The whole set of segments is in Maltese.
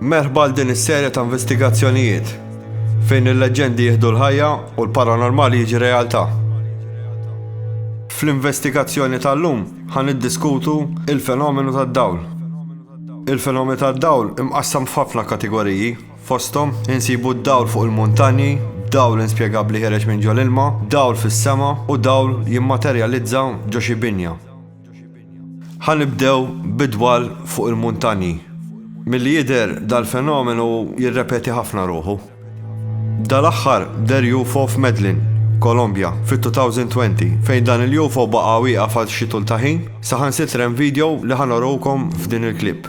Merħba għal din is-serja ta' investigazzjonijiet fejn il-leġendi jieħdu l-ħajja u l-paranormali jiġi realtà. Fl-investigazzjoni tal-lum ħan iddiskutu il-fenomenu tad-dawl. Il-fenomenu tad-dawl imqassam f'ħafna kategoriji Fosthom, insibu d-dawl fuq il-muntanji, dawl inspjegabbli ħiereġ minn ġo l-ilma, dawl fis-sema, u dawl jimmaterjalizza ġo xi binja. Ħa nibdew bid-dwal fuq il-muntanji. Milli jidher, dal-fenomenu jirrepeti ħafna ruħu. Dal-aħħar deher UFO f'Medellin, Kolombja, fit-2020, fejn dan il-UFO baqa' wieqaf għal xi tul ta' ħin, saħansitra hemm video li ħa noruwkom f'din il-clip.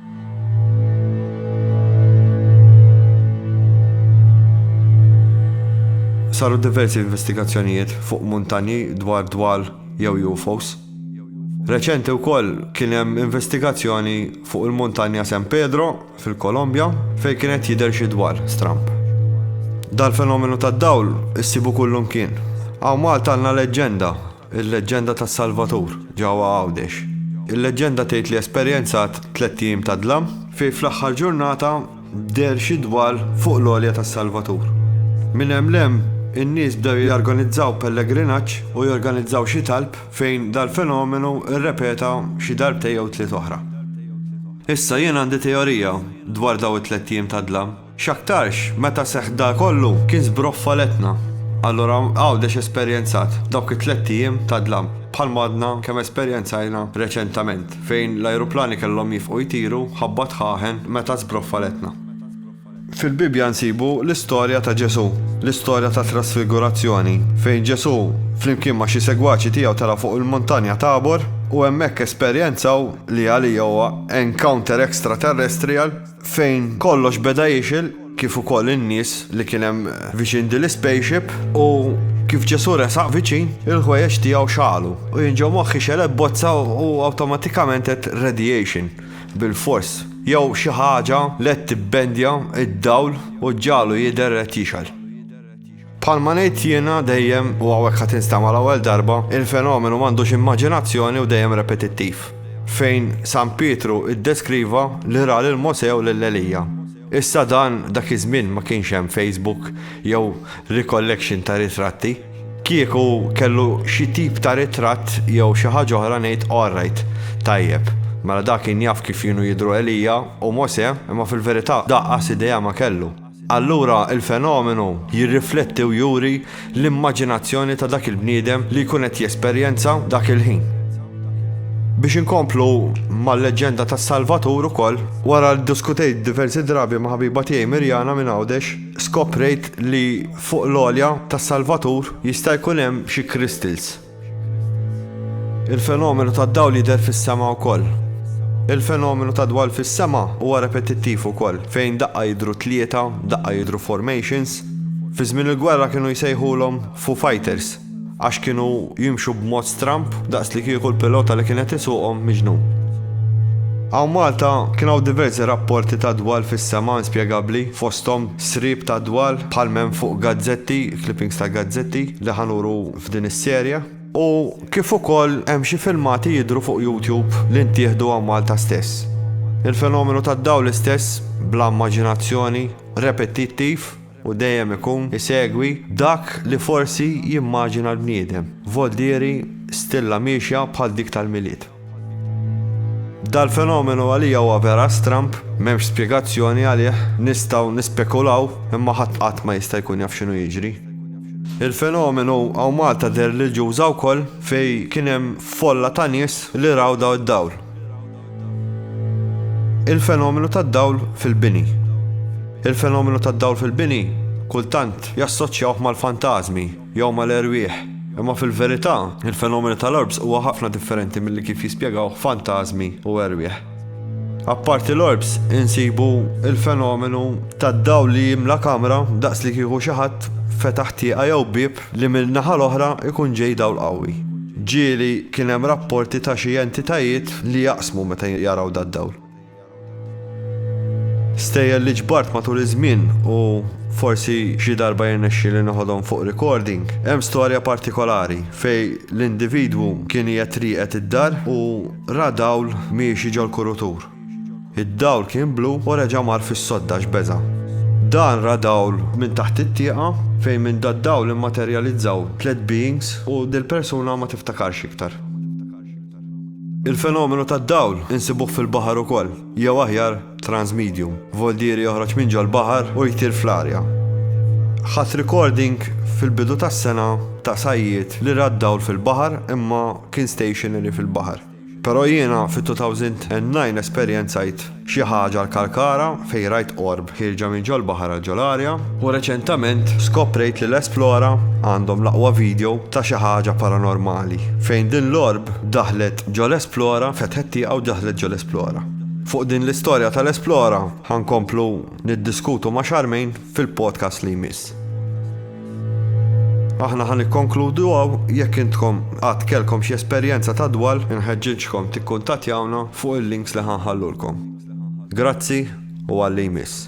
Saru diversi investigazzjonijiet fuq muntanji dwar dwal jew UFOs. Reċenti wkoll kien hemm investigazzjoni fuq il-muntanja San Pedro fil-Kolombja fejn kien qed jidher xi dwal stramb. Dal-fenomenu tad-dawl issibu kullum kien. Hawn Malta għandna leġġenda Il-leġġenda tas-Salvatur ġewwa Għawdex. Il-leġġenda tgħid li esperjenzat tlett ijiem ta' dlam fejn fl-aħħar ġurnata deher xi dwal fuq l-għolja tas-Salvatur. Minn hemm 'l hemm in-nies bdew jorganizzaw pellegrinaġġ u jorganizzaw xi talb fejn dal-fenomenu rrepeta xi darbtejn jew tliet oħra. Issa jien għandi teorija dwar dawn it-tlett ijiem ta' dlam. X'aktarx, meta seħħ dan kollu, kien żbroffa l-etna. Allura Għawdex esperjenzat dawk it-tlett ijiem ta' dlam, bħalma għadna kemm esperjenzajna reċentament, fejn l-ajruplani kellhom jifqu jtiru ħabba dħaħen meta żbroffa l-etna. Fil-Bibbja nsibu l-istorja ta' Ġesù, l-istorja tat-Trasfigurazzjoni, fejn Ġesù flimkien ma' xi segwaċi tiegħu telgħu fuq il-Muntanja Tabor u hemmhekk esperjenzaw li għalija huwa encounter extraterrestrial, fejn kollox beda jixgħel kif ukoll in-nies li kien hemm viċin din l-ispaceship u kif Ġesù resaq viċin, il-ħwejjeġ tiegħu xagħlu u jien ġo moħħi xegħlet bozza u awtomatikament għedt radiation bilfors jew xi ħaġa li qed tibbendja d-dawl u ġġagħlu jidher qed jixgħel. Bħalma ngħid jiena dejjem u hawnhekk ħa tinstama' l-ewwel darba, il-fenomenu m'għandux immaġinazzjoni u dejjem repetittiv. Fejn San Pietru ddeskriva li ra lil Mosè u lil Elija. Issa dan dak iż-żmien ma kienx hemm Facebook jew recollection ta' ritratti. Kieku kellu xi tip ta' ritratt jew xi ħaġa oħra ngħid alright, tajjeb, mela da kien jaf kif kienu jidhru Elija u Mosè imma fil-verità da qas idea ma kellu. Allura il-fenomenu jirrifletti u juri l-immaġinazzjoni ta' dak il-bniedem li jkun qed jesperjenza dak il-ħin. Biex inkomplu mal-leġġenda tas-Salvatur ukoll, wara li ddiskutejt diversi drabi ma' ħabiba tiegħi Mirjana minn Għawdex skoprejt li fuq l-għolja tas-Salvatur jista' jkun hemm xi crystals. Il-fenomenu tad-dawl jidher fis-sema wkoll. Il-fenomenu tad-dwal fis-sema huwa repetittiv ukoll, fejn daqqa jidhru tlieta, daqqa jidhru formations. Fi żmien il-gwerra kienu jsejħulhom Foo Fighters għax kienu jimxu b'mod stramb daqs li kieku l-pilota li kien qed isuqhom miġnun. Hawn Malta kien hawn diversi rapporti tad-dwal fis-sema inspjegabbli, fosthom sriep tad-dwal bħal m'hemm fuq gazzetti, clippings ta' gazzetti li ħa nuru f'din is-serje, u kif ukoll hemm xi filmati jidhru fuq YouTube li ntieħdu hawn Malta stess. Il-fenomenu tad-dawl istess, bla immaġinazzjoni, repetittiv, u dejjem ikun isegwi dak li forsi jimmaġina l-bniedem, voldieri stilla miexja bħal dik tal-Milied. Dal-fenomenu għalija huwa vera stramb, m'hemmx spjegazzjoni għalih, nistgħu nispekulaw imma ħadd qatt ma jista' jkun jaf x'inhu jiġri. Il-fenomenu hawn Malta deher lil Ġuża wkoll fejn kien hemm folla ta' nies li raw dawn id-dawl. Il-fenomenu tad-dawl fil-bini. Il-fenomenu tad-dawl fil-bini kultant jassoċjawh mal-fantażmi. jew mal-erwieħ. Imma fil-verità, il-fenomenu tal-orbs huwa ħafna differenti milli kif jispjegawh fantażmi u erwieħ. Apparti l-orbs, insibu l-fenomenu tad-dawl li jimla kamra daqs li kieku xi ħadd fetaħ tieqa jew bieb li min-naħa l-oħra jkun ġej dawl qawwi. Ġieli kien hemm rapporti ta' xi entitajiet li jaqsmu meta jaraw dad-dawl. Stejjer li ġbart matul iż-żmien u forsi xi darba jirnexxi li noħodhom fuq recording. Hemm storja partikolari fej l-individwu kien qiegħed rieqed id-dar u ra dawl miexi ġol-kurutur. Id-dawl kien blu u reġa' mar fis-sodda x'beża'. Dan ra dawl minn taħt it-tieqa fejn minn dad-dawl immaterjalizzaw tliet beings u dil-persuna ma tiftakarx iktar. Il-fenomenu tad-dawl insibuh fil-baħar ukoll, jew aħjar transmedium. Voldieri joħroġ minn ġol-baħar u jtir fl-arja. Ħadt recording fil-bidu tas-sena ta' sajjied li ra d-dawl fil-baħar imma kien stationary fil-baħar. Però jiena fit-2009 esperjenzajt Xi ħaġa l-Kalkara, fejn rajt qorb ħierġa minn ġol-baħar għal ġol-arja. U reċentament skoprejt li l-Esplora għandhom l-aqwa video ta' xi ħaġa paranormali, fejn din l-orb daħlet ġol-Esplora, fetħet tieqa u daħlet ġol-Esplora. Fuq din l-istorja tal-Esplora ħa nkomplu niddiskutu ma' Charmaine. fil-podcast li jmiss. Aħna ħan ikkonkludu għaw jekk intkom għad kelkom xi esperjenza ta' dwal inħeġġiġkom tikkuntatjawna fuq il-links li ħanħallulkom. Grazzi u għalli jmiss.